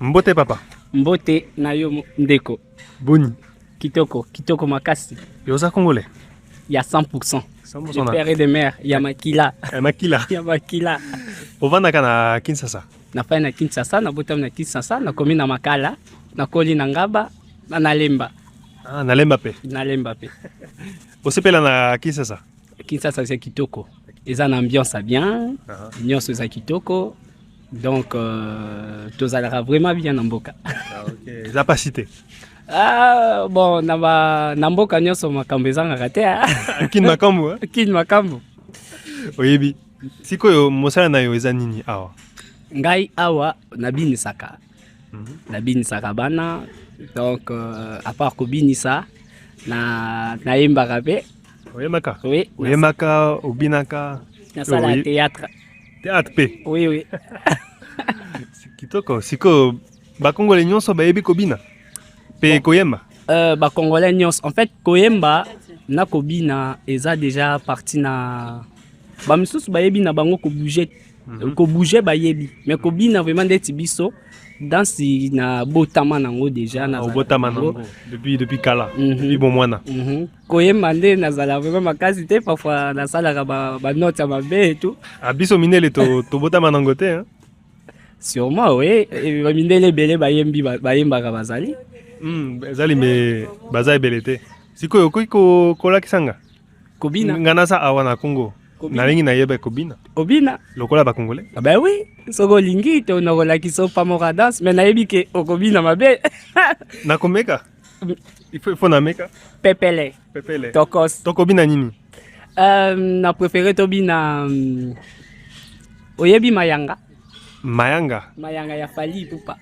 Mbote papa. Mbote na yo ndeko. Boni. Kitoko, kitoko makasi. Yo oza congolais? Ya 100%. 100% de père et de mère, ya makila. Ya makila. ya makila. Ovandaka na Kinshasa? Nafai na Kinshasa, nabotami na Kinshasa, nakomi na Makala, nakoli na Ngaba, na Nalemba. Ah, Nalemba pe. Nalemba pe. Osepela na Kinshasa? Kinshasa eza kitoko. Eza na ambiance bien. Uh -huh. Nyonso eza kitoko. donc euh, tozalaka vraiment bien na mboka ah, okay. eza pasi te Ah, bon, na ba na mboka nyonso makambo ezangaka te. Ah. Kin makambo. Eh? Kin makambo. Oyebi. Sikoyo mosala na yo eza nini awa? Ngai awa nabinisaka. Mm -hmm. Nabinisaka bana donc euh, à part kobinisa na nayembaka mpe oyembaka oui, oyembaka obinaka nasala théâtre Théâtre pe. Oui oui. Kitoko siko ba congolais nyonso bayebi kobina pe koyemba. Euh, ba congolais nyonso en fait koyemba na kobina eza déjà parti na ba misusu bayebi na bango ko bouger mhm. ko bouger bayebi mais kobina vraiment ndeti biso dansi na botama nango deja na ah, botama nango depuis depuis kala mm -hmm. depuis bomwana mm -hmm. koyemba nde nazala vraiment makasi te parfois nasalaka banote ya mabe etu ah, biso mindele tobotama nango te sûrement oui bamindele ebele bayembi bayembaka bazali hmm, ezali me baza ebele te sikoyo okoki kolakisa nga kobina nga naza awa na congo nalingi nayeba ekobina obina lokola bakongole ah ben oui soki olingi te nakolakisa opamora danse me nayebi ke okobina mabe nakomeka Il faut, il faut nameka. Pepele. Pepele. Tokos. Toko bina nini? Euh, na préféré to bina um, oyebi mayanga. Mayanga. Mayanga ya Fally Ipupa.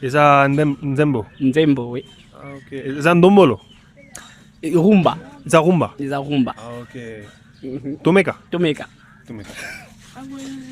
Eza ndem, nzembo. Nzembo oui. Ah, okay. Eza ndombolo. Eh, rumba. Eza rumba. Eza rumba. Ah, okay. Mm -hmm. Tomeka. Tomeka. Tomeka.